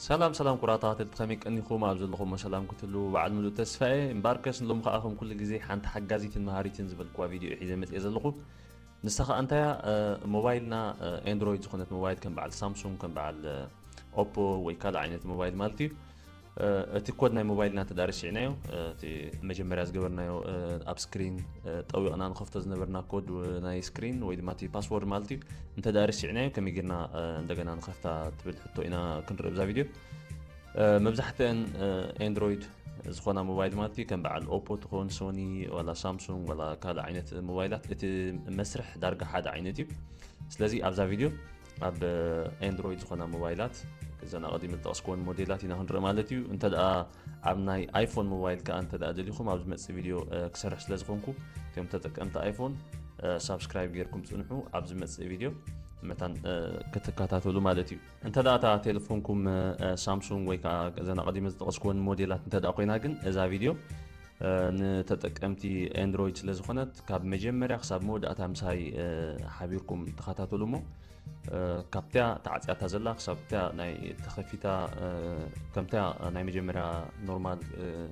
ሰላም ሰላም ኩራ ተካተልቲ ከመይ ቀኒኩም ኣብ ዘለኩሞ ሰላም ክትህልዉ በዓል ምሉእ ተስፋ እየ እምበኣርከስ ሎሚ ከዓ ከም ኩሉ ግዜ ሓንቲ ሓጋዚትን መሃሪትን ዝበልክዋ ቪድዮ እየ ሒዘ መፅየ ዘለኩ ንሳ ከዓ እንታያ ሞባይልና ኤንድሮይድ ዝኮነት ሞባይል ከም በዓል ሳምሱንግ ከም በዓል ኦፖ ወይ ካልእ ዓይነት ሞባይል ማለት እዩ እቲ ኮድ ናይ ሞባይልና እንተ ርሲዕናዮ እቲ መጀመርያ ዝገበርናዮ ኣብ ስክሪን ጠዊቕና ንኸፍቶ ዝነበርና ኮድ ናይ ስክሪን ወይ ድማ እቲ ፓስወርድ ማለት እዩ እንተ ርሲዕናዮ ከመይ ጌርና እንደገና ንኸፍታ ትብል ሕቶ ኢና ክንርኢ ብዛ ቪድዮ መብዛሕትአን ኤንድሮይድ ዝኾና ሞባይል ማለት እዩ ከም በዓል ኦፖ ትኾን ሶኒ ዋላ ሳምሱንግ ዋላ ካልእ ዓይነት ሞባይላት እቲ መስርሕ ዳርጋ ሓደ ዓይነት እዩ ስለዚ ኣብዛ ቪድዮ ኣብ ኣንድሮይድ ዝኾና ሞባይላት እዘን ኣቐዲመ ዝጠቕስክወን ሞዴላት ኢና ክንርኢ ማለት እዩ እንተ ኣብ ናይ ኣይፎን ሞባይል ከዓ እንተ ደሊኹም ኣብ ዝመፅእ ቪድዮ ክሰርሕ ስለ ዝኾንኩ እቶም ተጠቀምቲ ኣይፎን ሳብስክራይብ ጌርኩም ፅንሑ ኣብ ዝመፅእ ቪድዮ መታን ክትከታተሉ ማለት እዩ እንተ እታ ቴሌፎንኩም ሳምሱንግ ወይ ከዓ ዘና ቀዲመ ዝጠቐስክወን ሞዴላት እንተ ኮይና ግን እዛ ቪድዮ ንተጠቀምቲ ኣንድሮይድ ስለ ዝኾነት ካብ መጀመርያ ክሳብ መወዳእታ ምሳይ ሓቢርኩም ተኸታተሉ እሞ ካብትያ ተዓፅያታ ዘላ ክሳብትያ ናይ ተኸፊታ ከምትያ ናይ መጀመርያ ኖርማል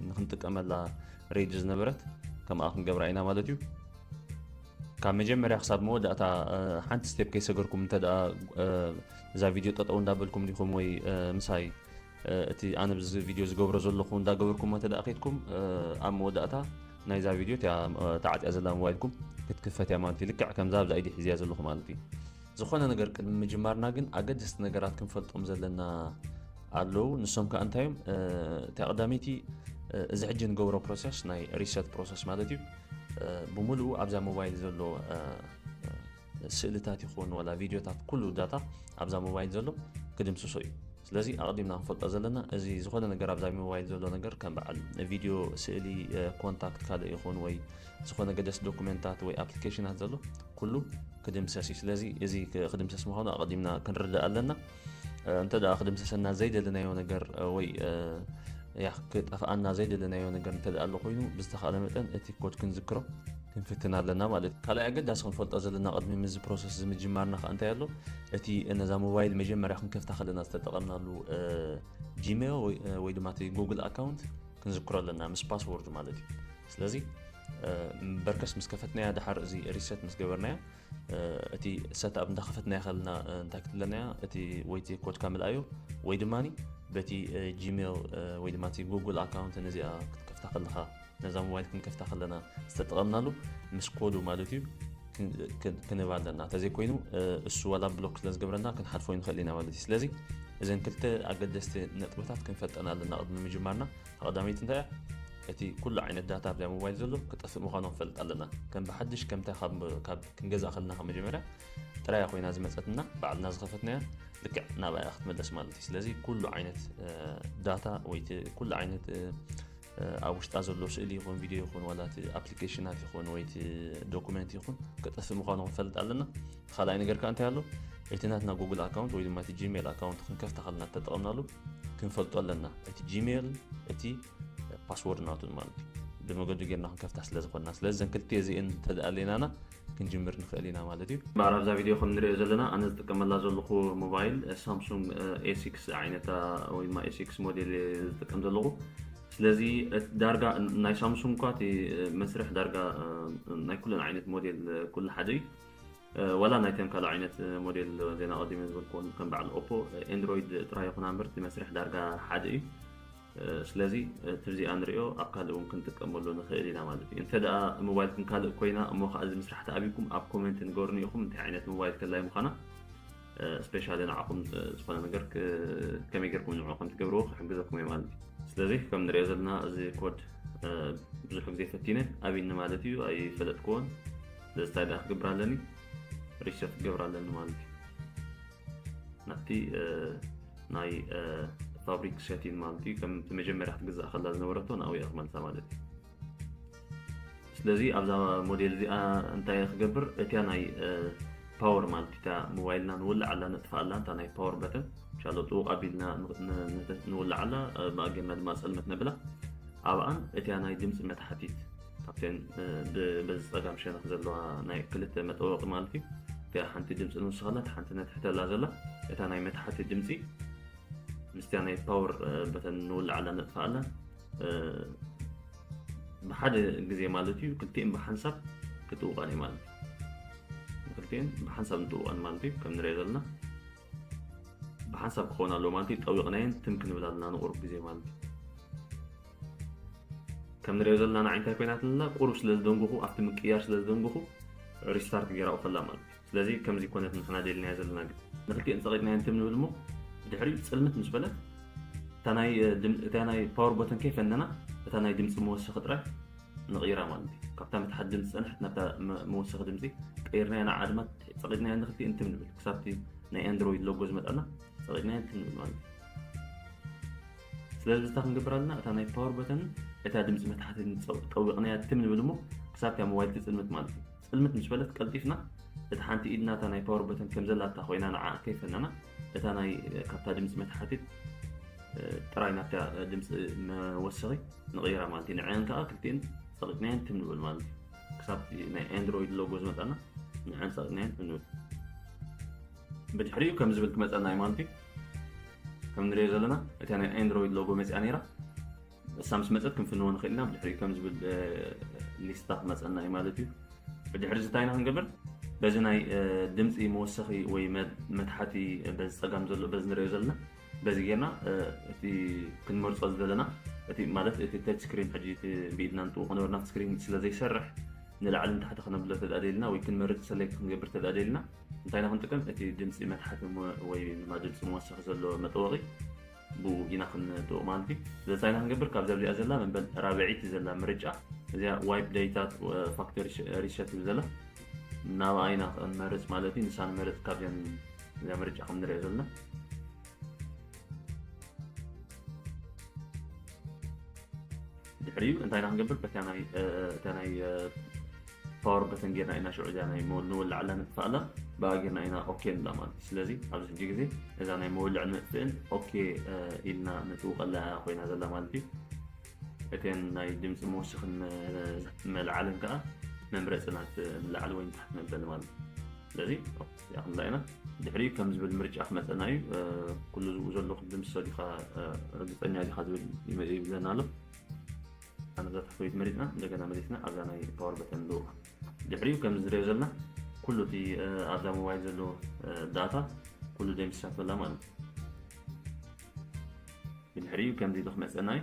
ንክንጥቀመላ ሬጅ ዝነበረት ከምኣ ክንገብራ ኢና ማለት እዩ ካብ መጀመርያ ክሳብ መወዳእታ ሓንቲ ስቴፕ ከይሰገርኩም እንተ እዛ ቪድዮ ጠጠው እንዳበልኩም ዲኹም ወይ ምሳይ እቲ ኣነ ብዚ ቪድዮ ዝገብሮ ዘለኹ እንዳገበርኩሞ እንተደኣ ከይድኩም ኣብ መወዳእታ ናይዛ ቪድዮ እቲኣ ተዓጽያ ዘላ ሞባይልኩም ክትክፈት እያ ማለት እዩ ልክዕ ከምዛ ኣብዛ ኢዲ ሒዝያ ዘለኹ ማለት እዩ ዝኾነ ነገር ቅድሚ ምጅማርና ግን ኣገደስቲ ነገራት ክንፈልጦም ዘለና ኣለዉ ንሶም ከዓ እንታይ እዮም እቲ ኣቕዳሚቲ እዚ ሕጂ ንገብሮ ፕሮሰስ ናይ ሪሰት ፕሮሰስ ማለት እዩ ብምልኡ ኣብዛ ሞባይል ዘሎ ስእልታት ይኹን ዋላ ቪድዮታት ኩሉ ዳታ ኣብዛ ሞባይል ዘሎ ክድምስሶ እዩ ስለዚ ኣቕዲምና ክንፈልጦ ዘለና እዚ ዝኾነ ነገር ኣብዛ ሞባይል ዘሎ ነገር ከም በዓል ቪድዮ ስእሊ ኮንታክት ካልእ ይኹን ወይ ዝኾነ ገደስ ዶኩመንታት ወይ ኣፕሊኬሽናት ዘሎ ኩሉ ክድምሰስ እዩ ስለዚ እዚ ክድምሰስ ምዃኑ ኣቐዲምና ክንርዳእ ኣለና እንተ ክድምሰሰና ዘይደለናዮ ነገር ወይ ክጠፍኣና ዘይደለናዮ ነገር እተ ኣሎ ኮይኑ ብዝተካለ መጠን እቲ ኮድ ክንዝክሮ ክንፍትን ኣለና ማለት እዩ ካልይ ኣገዳሲ ክንፈልጦ ዘለና ቅድሚ ምዚ ፕሮሰስ ዝምጅማርና ከዓ እንታይ ኣሎ እቲ ነዛ ሞባይል መጀመርያ ክንከፍታ ከለና ዝተጠቐምናሉ ጂሜል ወይ ድማ እቲ ጉግል ኣካውንት ክንዝክሮ ኣለና ምስ ፓስወርድ ማለት እዩ ስለዚ በርከስ ምስ ከፈትናያ ድሓር እዚ ሪሰት ምስ ገበርናያ እቲ ሰት ኣብ እንዳኸፈትና ይኸልና እንታይ ክትብለና እያ እቲ ወይቲ ኮድካ ምልኣዩ ወይ ድማ በቲ ጂሜል ወይ ድማ እቲ ጉግል ኣካውንት ነዚኣ ክትከፍታ ከለኻ ነዛ ሞባይል ክንከፍታ ከለና ዝተጠቐምናሉ ምስ ኮዱ ማለት እዩ ክንባ ኣለና እንተዘይኮይኑ እሱ ዋላ ብሎክ ስለ ዝገብረና ክንሓልፎ ንኽእል ኢና ማለት እዩ ስለዚ እዘን ክልተ ኣገደስቲ ነጥብታት ክንፈልጠና ኣለና ቅድሚ ምጅማርና እታ ቀዳመይቲ እንታይ እያ? እቲ ኩሉ ዓይነት ዳታ ኣብዛ ሞባይል ዘሎ ክጠፍእ ምዃኑ ክንፈልጥ ኣለና። ከም ብሓድሽ ከምታ ካብ ክንገዝኣ ከለና ካብ መጀመርያ ጥራያ ኮይና ዝመጸትና ባዕልና ዝኸፈትናያ ልክዕ ናብኣ እያ ክትመለስ ማለት እዩ። ስለዚ ኩሉ ዓይነት ዳታ ወይ ኩሉ ዓይነት ኣብ ውሽጣ ዘሎ ስእሊ ይኹን ቪድዮ ይኹን ዋላ እቲ ኣፕሊኬሽናት ይኹን ወይ እቲ ዶኩመንት ይኹን ክጠፍእ ምዃኑ ክንፈልጥ ኣለና። ኻልኣይ ነገር ከኣ እንታይ ኣሎ እቲ ናትና ጉግል ኣካውንት ወይ ድማ እቲ ጂሜል ኣካውንት ክንከፍታ ኸለና ተጠቐምናሉ ክንፈልጦ ኣለና እቲ ጂሜል እቲ ፓስወርድ ናቱን ማለት እዩ ብመገዱ ጌርና ክንከፍታ ስለ ዝኾንና ስለዚ ዘን ክልቲኤ እዚኤን ተደኣሌናና ክንጅምር ንኽእል ኢና ማለት እዩ እምበኣር ኣብዛ ቪድዮ ከም ንሪኦ ዘለና ኣነ ዝጥቀመላ ዘለኹ ሞባይል ሳምሱንግ ኤሲክስ ዝዓይነታ ወይ ድማ ኤሲክስ ሞዴል ዝጥቀም ዘለኹ ስለዚ ዳርጋ ናይ ሳምሱንግ እኳ እቲ መስርሕ ዳርጋ ናይ ኩለን ዓይነት ሞዴል ኩሉ ሓደ እዩ ወላ ናይተን ካልእ ዓይነት ሞዴል ዜና ቀዲመ ዝበልክዎን ከም በዓል ኦፖ ኤንድሮይድ ጥራይ ይኹና እምበር እቲ መስርሕ ዳርጋ ሓደ እዩ ስለዚ እቲ እዚኣ ንሪኦ ኣብ ካልእ እውን ክንጥቀመሉ ንኽእል ኢና ማለት እዩ እንተ ደኣ ሞባይልኩም ካልእ ኮይና እሞ ከዓ እዚ ምስራሕ ተኣብይኩም ኣብ ኮሜንት ንገሩኒ ኢኹም እንታይ ዓይነት ሞባይል ከላይ ምዃና ስፔሻሊ ንዓኹም ዝኾነ ነገር ከመይ ጌርኩም ንዑ ከም ትገብርዎ ክሕግዘኩም እዩ ማለት እዩ ስለዚ ከም ንሪኦ ዘለና እዚ ኮድ ብዙሕ ግዜ ፈቲነ ኣብኒ ማለት እዩ ኣይፈለጥክዎን ስለዚ እንታይ ደኣ ክገብር ኣለኒ ሪሰት ክገብር ኣለኒ ማለት እዩ ናብቲ ናይ ፋብሪክ ሸቲን ማለት እዩ ከምቲ መጀመርያ ክትግዛእ ከላ ዝነበረቶ ናብኡ እያ ክመልሳ ማለት እዩ ስለዚ ኣብዛ ሞዴል እዚኣ እንታይ ክገብር እቲያ ናይ ፓወር ማለት እታ ሞባይልና ንውላዕ ኣላ ነጥፋ ኣላ እታ ናይ ፓወር በተን ሻሎ ጥውቕ ኣቢልና ንውላዕ ኣላ ብኣገና ድማ ፀልመት ነብላ ኣብኣን እቲያ ናይ ድምፂ መታሕቲት ካብተን በዚ ፀጋም ሸነኽ ዘለዋ ናይ ክልተ መጠወቒ ማለት እዩ እቲኣ ሓንቲ ድምፂ ንውስኻላ እቲ ሓንቲ ነትሕተላ ዘላ እታ ናይ መታሕቲ ድምፂ ምስቲያ ናይ ፓወር በተን ንውላዓላ ነጥፋኣላ ብሓደ ግዜ ማለት እዩ ክልቲኤን ብሓንሳብ ክትውቃን ማለት እዩ ክልቲኤን ብሓንሳብ ንጥውቃን ማለት እዩ ከም ንሪኦ ዘለና ብሓንሳብ ክኸውን ኣለዎ ማለት እዩ ጠዊቕናየን ትም ክንብል ኣለና ንቑሩብ ግዜ ማለት እዩ ከም ንሪኦ ዘለና ንዓይ እንታይ ኮይና ኣለና ቁሩብ ስለ ዝደንጉኹ ኣብቲ ምቅያር ስለ ዝደንጉኹ ሪስታርት ገይራኡ ከላ ማለት እዩ ስለዚ ከምዚ ኮነት ንሕና ደልናዮ ዘለና ግን ንክልቲኤን ፀቂጥናየን ትም ንብል እሞ ድሕሪኡ ፅልምት ምስ በለ እታ ናይ ፓወር ቦተን ከይፈነና እታ ናይ ድምፂ መወሰኺ ጥራይ ንቕይራ ማለት እዩ ካብታ መትሓት ድምፂ ዝፀንሐት ናብታ መወሰኺ ድምፂ ቀይርናያ ንዓ ድማ ፀቒጥናያ ንክቲ እንትም ንብል ክሳብቲ ናይ ኣንድሮይድ ሎጎ ዝመጣና ፀቒጥናያ እንትም ንብል ማለት እዩ ስለዚ እታ ክንገብር ኣለና እታ ናይ ፓወር በተን እታ ድምፂ መትሓቲ ጠዊቕናያ ትም ንብል እሞ ክሳብቲ ኣብ ሞባይል ትፅልምት ማለት እዩ ፅልምት ምስ በለት ቀልጢፍና እቲ ሓንቲ ኢድና እታ ናይ ፓወር በተን ከም ዘላታ ኮይና ንዓ ከይፈለና እታ ናይ ካብታ ድምፂ መታሓቲት ጥራይ ናብታ ድምፂ መወሰኺ ንቕይራ ማለት እዩ ንዐን ከዓ ክልቲኤን ፀቂጥናየን ትም ንብል ማለት እዩ ክሳብ ናይ ኣንድሮይድ ሎጎ ዝመፃና ንዐን ፀቂጥናየን ትም ንብል ብድሕሪኡ ከም ዝብል ክመፀና እዩ ማለት እዩ ከም ንሪኦ ዘለና እታ ናይ ኣንድሮይድ ሎጎ መፅያ ነይራ ንሳ ምስ መፀት ክንፍንዎ ንኽእል ኢና ብድሕሪኡ ከም ዝብል ሊስታ ክመፀና እዩ ማለት እዩ ብድሕሪ እዚ እንታይ ኢና ክንገብር በዚ ናይ ድምፂ መወሰኺ ወይ መትሓቲ በዚ ፀጋም ዘሎ በዚ ንሪኦ ዘለና በዚ ጌርና እቲ ክንመርፆ ዝደለና እቲ ማለት እቲ ተች ስክሪን ሕጂ እቲ ብኢድና ንጥው ክነበርና ስክሪን ስለ ዘይሰርሕ ንላዕልን ታሕቲ ክነብሎ ተዳደልና ወይ ክንመርፅ ሰለይቲ ክንገብር ተዳደልና እንታይ ኢና ክንጥቀም እቲ ድምፂ መትሓቲ ወይ ድማ ድምፂ መወሰኺ ዘሎ መጠወቒ ብኡ ኢና ክንጥብቕ ማለት እዩ። ስለዚ እንታይ ኢና ክንገብር ካብዚ ኣብዚኣ ዘላ መበል ራብዐይቲ ዘላ ምርጫ እዚኣ ዋይፕ ዳይታ ፋክተሪ ሪሰት ትብል ዘላ ናብኣ ኢና ክንመርፅ ማለት እዩ። ንሳ ንመርፅ ካብዚኣን እዚኣ ምርጫ ከም ንሪኦ ዘለና ድሕሪኡ እንታይ ኢና ክንገብር በታ ናይ እታ ናይ ፓወር በተን ጌርና ኢና ሽዑ እዚኣ ናይ ንወላዕላ ንጥፋእላ ብኣ ጌርና ኢና ኦኬ ንብላ ማለት እዩ ስለዚ ኣብዚ ሕጂ ግዜ እዛ ናይ መወልዕ ንጥፍእን ኦኬ ኢልና ንጥውቀላ እያ ኮይና ዘላ ማለት እዩ እተን ናይ ድምፂ መወስኽን መልዓልን ከዓ መምረፂ ናት ንላዕሊ ወይ ንታሕቲ ነብለን ማለት እዩ ስለዚ እዚኣ ክንዳ ኢና ድሕሪኡ ከም ዝብል ምርጫ ክመፀና እዩ ኩሉ ዝብኡ ዘሎ ክዲ ምሰ ዲካ ርግፀኛ ዲካ ዝብል ይብለና ኣሎ ኣነ እዛ ታሕተወይቲ መሪፅና እንደገና መሊስና ኣብዛ ናይ ፓወር በተን ንድውቕ ድሕሪኡ ከም ዝሪኦ ዘለና ኩሉ እቲ ኣብዛ ሞባይል ዘሎ ዳታ ኩሉ ደምሲሳቶ ኣላ ማለት እዩ ብድሕሪኡ ከምዚ ኢሉ ክመፀና እዩ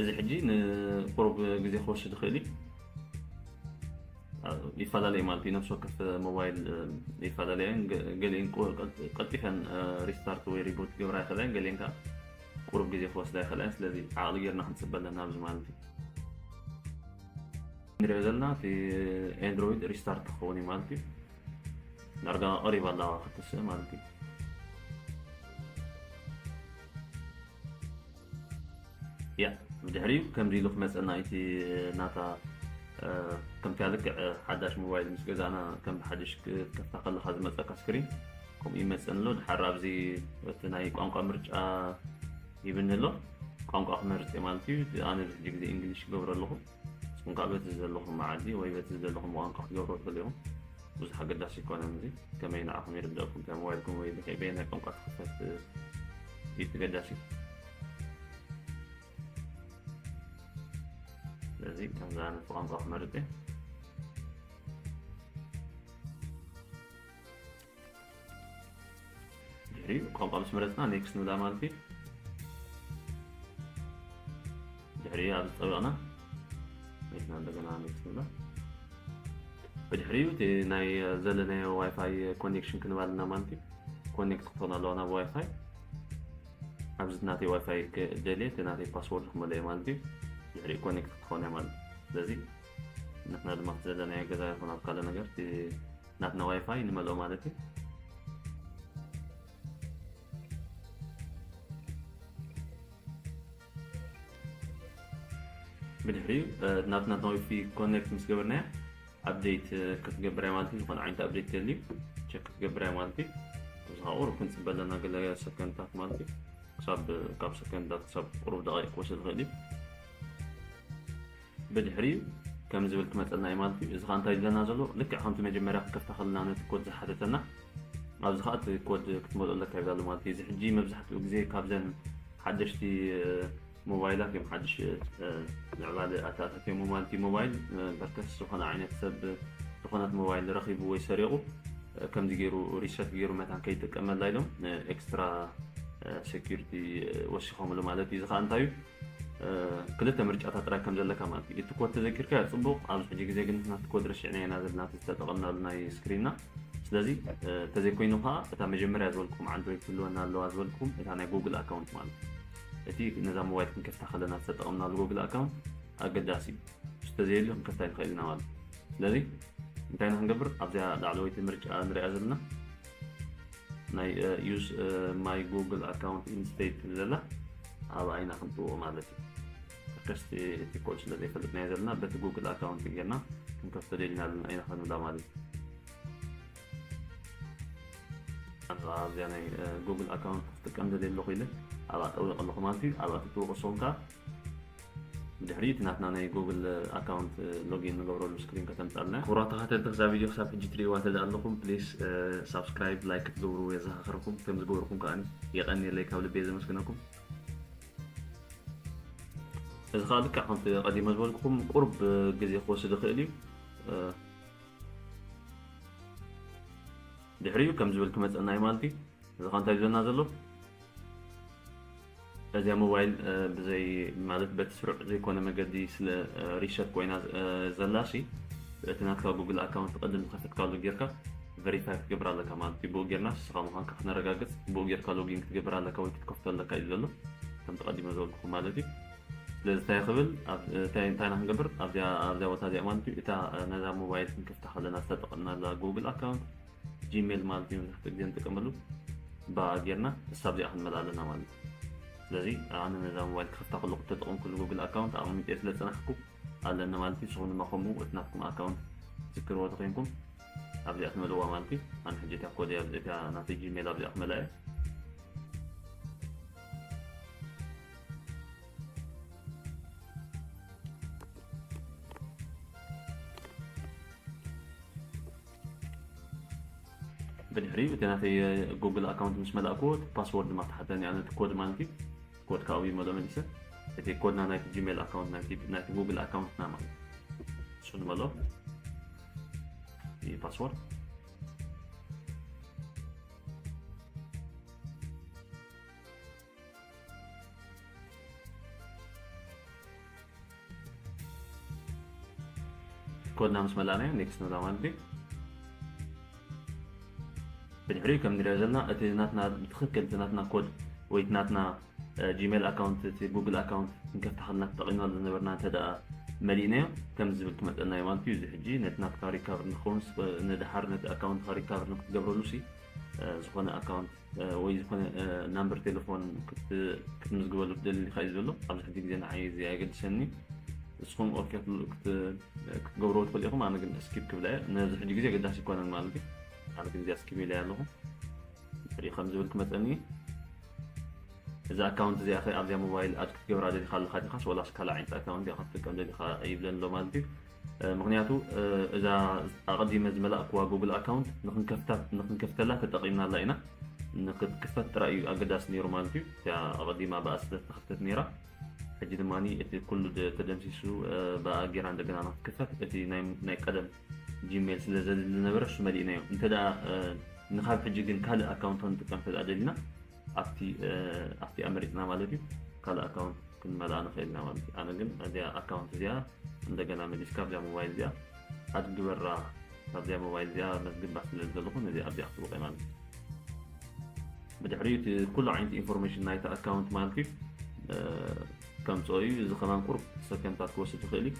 እዚ ሕጂ ንቁሩብ ግዜ ክወስድ ይኽእል እዩ ይፈላለዩ ማለት እዩ ነፍሲ ወከፍ ሞባይል ይፈላለያ እየን ገሊአን ቀልጢፈን ሪስታርት ወይ ሪቡት ክገብራ ይኽእላ እየን ገሊአን ከዓ ቁሩብ ግዜ ክወስዳ ይኽእላ እየን ስለዚ ዓቕሊ ጌርና ክንፅበ ኣለና ኣብዚ ማለት እዩ ንሪኦ ዘለና እቲ ኤንድሮይድ ሪስታርት ክኸውን እዩ ማለት እዩ ዳርጋ ቀሪባ ኣለዋ ክትስእ ማለት እዩ ያእ ብድሕሪኡ ከምዚ ኢሉ ክመጸና ኢዩ እቲ ናታ ከምታ ልክዕ ሓዳሽ ሞባይል ምስ ገዛእና ከም ብሓድሽ ክትከፍታ ከለካ ዝመጸካ ስክሪን ከምኡ ይመጸኒ ኣሎ ድሓር ኣብዚ እቲ ናይ ቋንቋ ምርጫ ሂብኒ ኣሎ ቋንቋ ክመርጽ እየ ማለት እዩ ኣነ ብሕጂ ግዜ እንግሊሽ ክገብሮ ኣለኹ እንካዕ በቲ ዝደለኹም መዓዲ ወይ በቲ ዝደለኹም ቋንቋ ክትገብርዎ ትኽእሉ ኢኹም። ብዙሕ ኣገዳሲ ኣይኮነን እዚ ከመይ ንዓኹም ይርደኣኩም እንታይ ሞባይልኩም ወይ ብከይ በየናይ ቋንቋ ትኽፈት እዩ እቲ ገዳሲ። ስለዚ ከምዚ ኣነ ቋንቋ ክመርጽ እየ። ድሕሪ ቋንቋ ምስ መረፅና ኔክስት ንብላ ማለት እዩ ድሕሪ ኣብ ዝጠበቕና መኪና እንደገና ኔክስት ንብላ ብድሕሪኡ እቲ ናይ ዘለናዮ ዋይፋይ ኮኔክሽን ክንባል እና ማለት እዩ ኮኔክት ክኾን ኣለዋ ናብ ዋይፋይ ኣብዚ ናተይ ዋይፋይ ደልየ እቲ ናተይ ፓስወርድ ክመለዮ ማለት እዩ ድሕሪኡ ኮኔክት ክትኾን እያ ማለት እዩ ስለዚ ንሕና ድማ ዘለናዮ ገዛ ይኹን ኣብ ካልእ ነገር ናትና ዋይፋይ ንመልኦ ማለት እዩ ብድሕሪኡ ናትና ዋይፊ ኮኔክት ምስ ገበርናያ ኣብዴት ክትገብር እያ ማለት እዩ ዝኾነ ዓይነት ኣብዴት ደልዩ ቸክ ክትገብር እያ ማለት እዩ እዛ ቁሩብ ክንፅበ ኣለና ገለ ሰከንድታት ማለት እዩ ክሳብ ካብ ሰከንድታት ክሳብ ቁሩብ ደቂቕ ክወስድ ይኽእል እዩ ብድሕሪኡ ከምዚ ዝብል ክመጸና እዩ ማለት እዩ። እዚ ከኣ እንታይ ይብለና ዘሎ ልክዕ ከምቲ መጀመርያ ክከፍታ ከለና ነቲ ኮድ ዝሓተተና ኣብዚ ከኣ እቲ ኮድ ክትመልኦ ኣለካ ይብላ ኣሎ ማለት እዩ። እዚ ሕጂ መብዛሕትኡ ግዜ ካብዘን ሓደሽቲ ሞባይላት እዮም ሓድሽ ምዕባለ ኣተኣታትዮሞ ማለት እዩ። ሞባይል በርከስ ዝኾነ ዓይነት ሰብ ዝኾነት ሞባይል ረኺቡ ወይ ሰሪቑ ከምዚ ገይሩ ሪሰት ገይሩ መታን ከይጥቀመላ ኢሎም ኤክስትራ ሴኪሪቲ ወሲኾምሉ ማለት እዩ። እዚ ከኣ እንታይ እዩ ክልተ ምርጫታት ጥራይ ከም ዘለካ ማለት እዩ እቲ ኮድ ተዘኪርካ ጽቡቅ ኣብዚ ሕጂ ግዜ ግን ናቲ ኮድ ረሲዕናዮ ኢና ዘለና ዝተጠቐምናሉ ናይ ስክሪንና ስለዚ ተዘይኮይኑ ከዓ እታ መጀመርያ ዝበልኩም ዓንድሮይድ ትህልወና ኣለዋ ዝበልኩም እታ ናይ ጉግል ኣካውንት ማለት እቲ ነዛ ሞባይል ክንከፍታ ከለና ዝተጠቐምናሉ ጉግል ኣካውንት ኣገዳሲ እዩ ዝተዘየሉ ክንከፍታ ይንኽእል ኢና ማለት ስለዚ እንታይ ኢና ክንገብር ኣብዚኣ ላዕለወይቲ ምርጫ ንሪኣ ዘለና ናይ ዩዝ ማይ ጉግል ኣካውንት ኢንስቴድ ትብል ዘላ ኣብኣ ኢና ክንጥዎ ማለት እዩ ተከስቲ እቲ ኮድ ስለ ዘይፈልጥናዮ ዘለና በቲ ጉግል ኣካውንት ጌርና ክንከፍቶ ደሊና ኣለና ኢና ክንብላ ማለት እዩ ኣብዚኣ ናይ ጉግል ኣካውንት ክትጥቀም ደልየ ኣለኹ ኢለ ኣብኣ ጠዊቕ ኣለኹ ማለት እዩ ኣብኣ ትጥውቕ ንስኹም ከዓ ብድሕሪ እቲ ናትና ናይ ጎግል ኣካውንት ሎጊን ንገብረሉ ስክሪን ከተምጻልና ክቡራት ተኸታተልቲ ክዛ ቪድዮ ክሳብ ሕጂ ትርእይዋ እንተ ኣለኹም ፕሊስ ሳብስክራይብ ላይክ ክትገብሩ የዘኻኽረኩም ከምዚ ገበርኩም ከኣ የቐንየለይ ካብ ልቤ ዘመስግነኩም እዚ ከዓ ልክዕ ከምቲ ቀዲመ ዝበልኩኹም ቁርብ ግዜ ክወስድ ይኽእል እዩ ድሕሪኡ ከም ዝብል ክመፀና እዩ ማለት እዩ እዚ ከዓ እንታይ እዩ ዘለና ዘሎ እዚኣ ሞባይል ብዘይ ማለት በቲ ስሩዕ ዘይኮነ መገዲ ስለ ሪሰት ኮይና ዘላሲ እቲ ናትካ ጉግል ኣካውንት ቅድም ዝኸፈትካሉ ጌርካ ቨሪፋይ ክትገብር ኣለካ ማለት እዩ ብኡ ጌርና ንስኻ ምዃንካ ክነረጋግጽ ብኡ ጌርካ ሎጊን ክትገብር ኣለካ ወይ ክትከፍቶ ኣለካ እዩ ዘሎ ከምቲ ቀዲመ ዝበልኩኹም ማለት እዩ ስለዚ እንታይ ክብል እንታይ ኢና ክንገብር ኣብዚኣ ኣብዚኣ ቦታ እዚኣ ማለት እዩ እታ ነዛ ሞባይል ክንከፍታ ከለና ዝተጠቐምናላ ጉግል ኣካውንት ጂሜል ማለት መብዛሕትኡ ግዜ ንጥቀመሉ ብኣ ጌርና ክሳብ እዚኣ ክንመልኣ ኣለና ማለት እዩ ስለዚ ኣነ ነዛ ሞባይል ክኸፍታ ከለኹ ተጠቐምኩሉ ጉግል ኣካውንት ኣቐሚጠ ስለ ዝፀናሕኩ ኣለኒ ማለት እዩ ንስኹም ድማ ከምኡ እቲ ናትኩም ኣካውንት ትዝክርዎ ተኮይንኩም ኣብዚኣ ትመልእዋ ማለት እዩ ኣነ ሕጂ እታ ኮድ እታ ናተይ ጂሜል ኣብዚኣ ክመልኣ እየ ብድሕሪኡ እቲ ናተይ ጉግል ኣካውንት ምስ መላእክዎ እቲ ፓስዎርድ ድማ ተሓተኒ ኣነ እቲ ኮድ ማለት እዩ ኮድ ካብኡ ይመሎ መሊሰ እቲ ኮድና ናይቲ ጂሜል ኣካውንት ናይቲ ጉግል ኣካውንትና ማለት እሱ ንመሎ እዩ ፓስዎርድ ኮድና ምስ መላእናዮ ኔክስት ንብላ ማለት እዩ ብድሕሪኡ ከም ንሪኦ ዘለና እቲ ናትና ብትኽክል እቲ ናትና ኮድ ወይ እቲ ናትና ጂሜል ኣካውንት እቲ ጉግል ኣካውንት ክንከፍታኸልና ተጠቒምናሉ ዝነበርና እንተ ደኣ መሊእናዮ ከም ዝብል ክመፀና እዩ ማለት እዩ እዚ ሕጂ ነቲ ናትካ ሪካቨር ንክኸውን ንድሓር ነቲ ኣካውንትካ ሪካቨር ንክትገብረሉ ሲ ዝኾነ ኣካውንት ወይ ዝኾነ ናምበር ቴለፎን ክትምዝግበሉ ትደሊ ዲኻ እዩ ዝበሎ ኣብዚ ሕጂ ግዜ ንዓይ እዚ ኣየገድሰኒ ንስኹም ኦኬ ክትገብርዎ ትኽእሉ ኢኹም ኣነ ግን ስኪፕ ክብላ እየ ነዚ ሕጂ ግዜ ኣገዳሲ ይኮነን ማለት እዩ ኣነ ግን እዚኣ ስኪፕ ኢለያ ኣለኹ ሪኦ ከም ዝብል ክመፀኒ እዩ እዚ ኣካውንት እዚኣ ከ ኣብዚኣ ሞባይል ኣድ ክትገብራ ደሊኻ ኣለኻ ዲኻስ ወላስ ካልእ ዓይነት ኣካውንት ዲኻ ክትጥቀም ደሊኻ ይብለኒ ኣሎ ማለት እዩ ምኽንያቱ እዛ ኣቐዲመ ዝመላእክዋ ጉግል ኣካውንት ንኽንከፍተላ ተጠቒምናላ ኢና። ንኽትክፈት ጥራይ እዩ ኣገዳሲ ነይሩ ማለት እዩ። እቲኣ ኣቐዲማ ብኣ ስለ ዝተኸፍተት ነይራ ሕጂ ድማ እቲ ኩሉ ተደምሲሱ ብኣ ጌራ እንደገና ንኽትክፈት እቲ ናይ ቀደም ጂሜል ስለ ዘድሊ ዝነበረ እሱ መሊእናዮ። እንተ ንኻብ ሕጂ ግን ካልእ ኣካውንት ክንጥቀም እንተ ደሊና ኣብቲ ኣመሪጽና ማለት እዩ ካልእ ኣካውንት ክንመልኣ ንኽእል ኢና ማለት እዩ ኣነ ግን እዚኣ ኣካውንት እዚኣ እንደገና መሊስካ ኣብዚኣ ሞባይል እዚኣ ኣድ ግበራ ካብዚኣ ሞባይል እዚኣ መዝግባ ስለ ዘለኹ ነዚኣ ኣብዚኣ ክትብቀ ማለት እዩ ብድሕሪኡ እቲ ኩሉ ዓይነት ኢንፎርሜሽን ናይቲ ኣካውንት ማለት እዩ ከምፅኦ እዩ እዚ ከማን ቁርብ ሰከንታት ክወስድ ይኽእል እዩ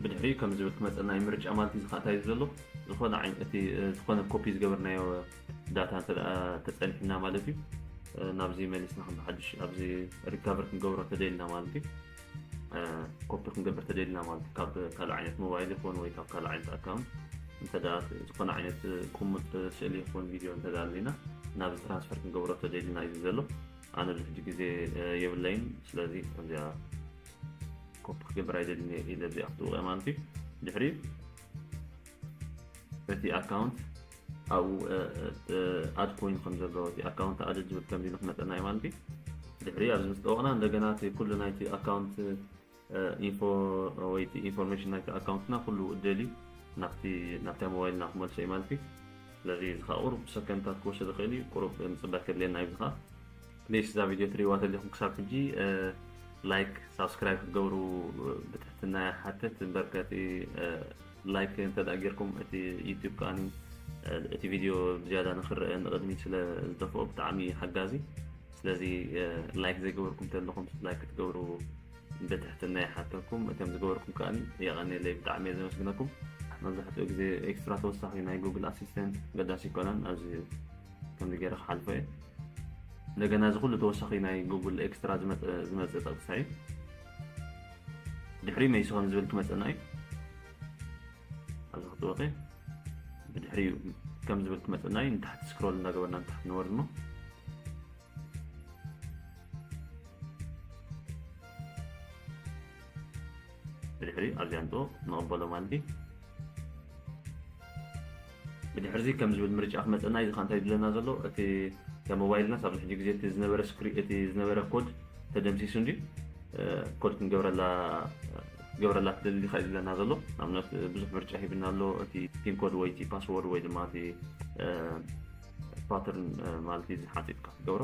ብድሕሪኡ ከምዚ ዝብል ክመፀና እዩ ምርጫ ማለት እዚ ከዓ እንታይ እዩ ዘሎ ዝኾነ ዓይነ እቲ ዝኾነ ኮፒ ዝገበርናዮ ዳታ እንተ ተፀኒሑና ማለት እዩ ናብዚ መሊስና ከም ብሓድሽ ኣብዚ ሪካቨር ክንገብሮ እንተደልና ማለት እዩ ኮፒ ክንገብር ተደልና ማለት እዩ ካብ ካልእ ዓይነት ሞባይል ይኹን ወይ ካብ ካልእ ዓይነት ኣካውንት እንተ ዝኾነ ዓይነት ቁሙጥ ስእሊ ይኹን ቪድዮ እንተ ኣለና ናብዚ ትራንስፈር ክንገብሮ ተደልና እዩ ዘሎ ኣነ ብሕጂ ግዜ የብለይን ስለዚ እዚኣ ኮፒ ክገብር ኣይደልን እየ ኢለ ዘይኣፍትኡ ማለት እዩ ድሕሪ እቲ ኣካውንት ኣብኡ ኣድ ኮይኑ ከም ዘሎ እቲ ኣካውንት ኣድ ዝብል ከምዚ ኢሉ ክመፀና እዩ ማለት እዩ ድሕሪ ኣብዚ ምስ ጠወቕና እንደገና እቲ ኩሉ ናይቲ ኣካውንት ኢንፎ ወይ እቲ ኢንፎርሜሽን ናይቲ ኣካውንትና ኩሉ ደሊ ናብቲ ናብታ ሞባይልና ክመልሶ እዩ ማለት እዩ ስለዚ እዚ ከዓ ቁሩብ ሰከንድታት ክወስድ ይኽእል እዩ ቁሩብ ምፅባይ ከድልየና እዩ እዚ ከዓ ፕሊስ እዛ ቪድዮ ትሪእዋ ተለኹም ክሳብ ሕጂ ላይክ ሳብስክራይብ ክትገብሩ ብትሕትና ይሓትት እምበር ከቲ ላይክ እንተደኣ ጌርኩም እቲ ዩቱብ ከዓኒ እቲ ቪድዮ ብዝያዳ ንክረአ ንቕድሚት ስለ ዝደፍኦ ብጣዕሚ ሓጋዚ ስለዚ ላይክ ዘይገበርኩም ተለኹም ላይክ ክትገብሩ ብትሕትና ይሓተኩም እቶም ዝገበርኩም ከዓኒ የቐኔለይ ብጣዕሚ እየ ዘመስግነኩም መብዛሕትኡ ግዜ ኤክስትራ ተወሳኺ ናይ ጉግል ኣሲስተንት ገዳሲ ይኮነን ኣብዚ ከምዚ ገይረ ክሓልፎ እየ እንደገና እዚ ኩሉ ተወሳኺ ናይ ጉግል ኤክስትራ ዝመፅእ ጥቕሳ እዩ ድሕሪ መይሲ ከም ዝብል ክመፀና እዩ ኣብዚ ክትወቂ ብድሕሪ ከም ዝብል ክመፀና እዩ ንታሕቲ ስክሮል እንዳገበርና ንታሕቲ ንወርድ እሞ ብድሕሪ ኣብዚ ኣምጽኦ ንቕበሎ ማለት እዩ ብድሕርዚ ከም ዝብል ምርጫ ክመፀና እዚ እንታይ ድለና ዘሎ እቲ ከም ሞባይልናስ ኣብዚ ሕጂ ግዜ እቲ ዝነበረ ስክሪ እቲ ዝነበረ ኮድ ተደምሲሱ እንዲ ኮድ ክንገብረላ ገብረላ ትደሊ ዲኻ እዩ ዝብለና ዘሎ ንኣብነት ብዙሕ ምርጫ ሂብና ኣሎ እቲ ፒን ኮድ ወይ እቲ ፓስወርድ ወይ ድማ እቲ ፓተርን ማለት እዩ ዝሓፂጥካ ክትገብሮ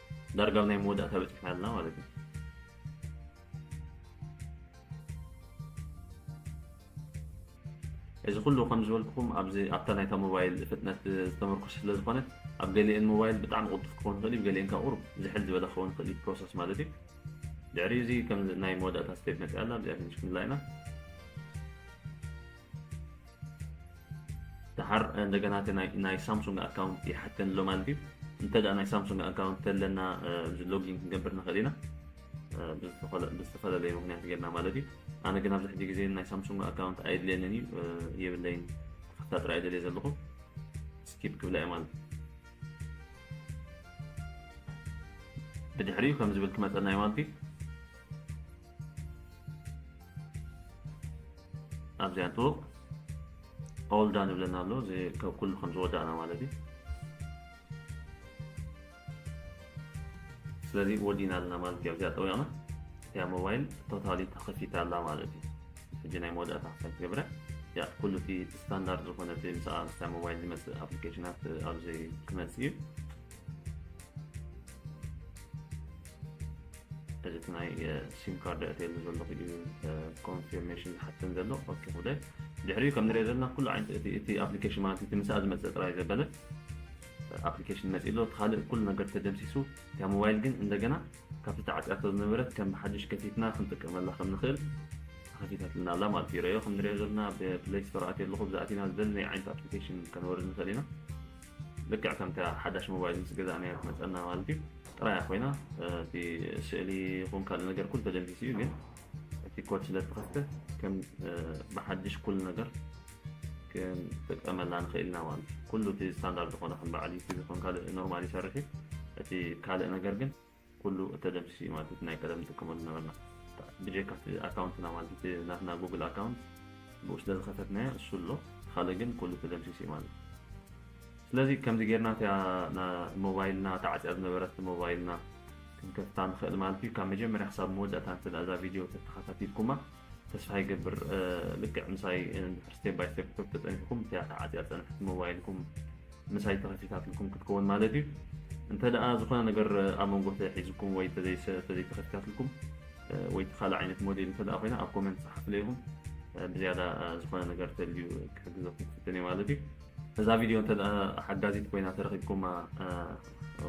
ዳርጋ ኣብ ናይ መወዳእታ በፂሕና ኣለና ማለት እዩ እዚ ኩሉ ከም ዝበልኩኹም ኣብዚ ኣብታ ናይታ ሞባይል ፍጥነት ዝተመርኮሰ ስለ ዝኾነ ኣብ ገሊኤን ሞባይል ብጣዕሚ ቅልጡፍ ክኸውን ይኽእል እዩ ገሊኤን ካብ ቁሩብ ዝሕል ዝበለ ክኸውን ይኽእል እዩ ፕሮሰስ ማለት እዩ ድሕሪ እዚ ከም ናይ መወዳእታ ስቴፕ መፅኣ ኣላ እዚኣ ትንሽ ክንላ ኢና ደሓር እንደገና እቲ ናይ ሳምሱንግ ኣካውንት ይሓተኒ ኣሎ ማለት እዩ እንተ ናይ ሳምሱንግ ኣካውንት ተለና ሎጊን ክንገብር ንኽእል ኢና ብዝተፈላለየ ምክንያት ጌርና ማለት እዩ ኣነ ግን ኣብዚ ሕጂ ግዜ ናይ ሳምሱንግ ኣካውንት ኣየድልየንን እዩ የብለይን ክፍታ ጥራይ ደልየ ዘለኹ ስኪፕ ክብላ እየ ማለት ብድሕሪኡ ከም ዝብል ክመፀና እዩ ማለት እዩ ኣብዚ ኣቶ ኦል ዳን ይብለና ኣሎ እዚ ካብ ኩሉ ከም ዝወዳእና ማለት እዩ ስለዚ ወዲና ኣለና ማለት እዩ ኣብዚኣ ጠዊቕና እቲያ ሞባይል ቶታሊ ተኸፊታ ኣላ ማለት እዩ ሕጂ ናይ መወዳእታ ክሳብ ትገብረ እያ ኩሉ እቲ ስታንዳርድ ዝኾነ እቲ ምስኣ ምስታ ሞባይል ዝመፅእ ኣፕሊኬሽናት ኣብዚ ክመፅእ እዩ እዚ እቲ ናይ ሲም ካርድ ኣእትየሉ ዘለኹ እዩ ኮንፊርሜሽን ዝሓተኒ ዘሎ ኦኬ ክብለ ድሕሪኡ ከም ንሪኦ ዘለና ኩሉ ዓይነት እቲ ኣፕሊኬሽን ማለት እቲ ምስኣ ዝመፀ ጥራይ ዘበለ ኣፕሊኬሽን መፂ ኣሎ እቲ ካልእ ኩሉ ነገር ተደምሲሱ እያ ሞባይል ግን እንደገና ካብቲ ተዓፅያቶ ዝነበረት ከም ብሓድሽ ከፊትና ክንጥቀመላ ከም ንኽእል ተኸፊታትና ኣላ ማለት እዩ ረዮ ከም ንሪኦ ዘለና ብፕሌይ ስቶር ኣትየ ኣለኹ ብዛኣቲና ዝደለናይ ዓይነት ኣፕሊኬሽን ከነወርድ ንኽእል ኢና ልክዕ ከምታ ሓዳሽ ሞባይል ምስ ገዛእናያ ትመጸና ማለት እዩ ጥራያ ኮይና እቲ ስእሊ ይኹን ካልእ ነገር ኩሉ ተደምሲሱ እዩ ግን እቲ ኮድ ስለ ዝተኸፍተ ከም ብሓድሽ ኩሉ ነገር ክንጥቀመላ ንኽእል ኢና ማለት እዩ ኩሉ እቲ ስታንዳርድ ዝኾነ ከም በዓል ዩቲብ ይኹን ካልእ ኖርማል ይሰርሕ እዩ እቲ ካልእ ነገር ግን ኩሉ ተደምሲሱ እዩ ማለት እቲ ናይ ቀደም ንጥቀመሉ ዝነበርና ብጀካ እቲ ኣካውንትና ማለት እቲ ናትና ጉግል ኣካውንት ብኡ ስለ ዝኸፈትናዮ እሱ ኣሎ ካልእ ግን ኩሉ ተደምሲሱ እዩ ማለት ስለዚ ከምዚ ጌርና እቲያ ሞባይልና ተዓፅያ ዝነበረት ሞባይልና ክንከፍታ ንኽእል ማለት እዩ ካብ መጀመርያ ክሳብ መወዳእታ እንተ እዛ ቪድዮ ተተኸታቲልኩማ ተስፋ ይገብር ልክዕ ምሳይ እንድሕር ስቴፕ ባይ ስቴፕ ክተብ ተፀኒሕኩም እቲኣ ተዓፅያ ዝፀንሐት ሞባይልኩም ምሳይ ተኸፊታትልኩም ክትከውን ማለት እዩ እንተ ደኣ ዝኾነ ነገር ኣብ መንጎ ተሒዝኩም ወይ ተዘይተኸፊታትልኩም ወይ ተኻልእ ዓይነት ሞዴል እንተ ደኣ ኮይና ኣብ ኮመንት ፀሓፍለይኹም ብዝያዳ ዝኾነ ነገር ተልዩ ክሕግዘኩም ክፍትን እየ ማለት እዩ እዛ ቪድዮ እንተ ሓጋዚት ኮይና ተረኪብኩማ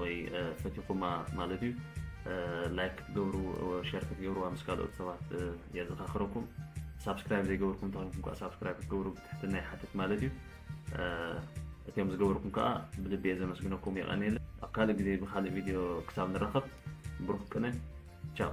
ወይ ፈቲኹማ ማለት እዩ ላይክ ክትገብሩ ሸር ክትገብርዋ ምስ ካልኦት ሰባት የዘኻኽረኩም ሳብስክራይብ ዘይገበርኩም እንተኮይንኩም ከዓ ሳብስክራይብ ክትገብሩ ብትሕትና ይሓትት ማለት እዩ እትዮም ዝገበርኩም ከዓ ብልቢ እየ ዘመስግነኩም የቀኒለ ኣብ ካልእ ግዜ ብካልእ ቪድዮ ክሳብ ንራኸብ ብሩክ ቅነ ቻው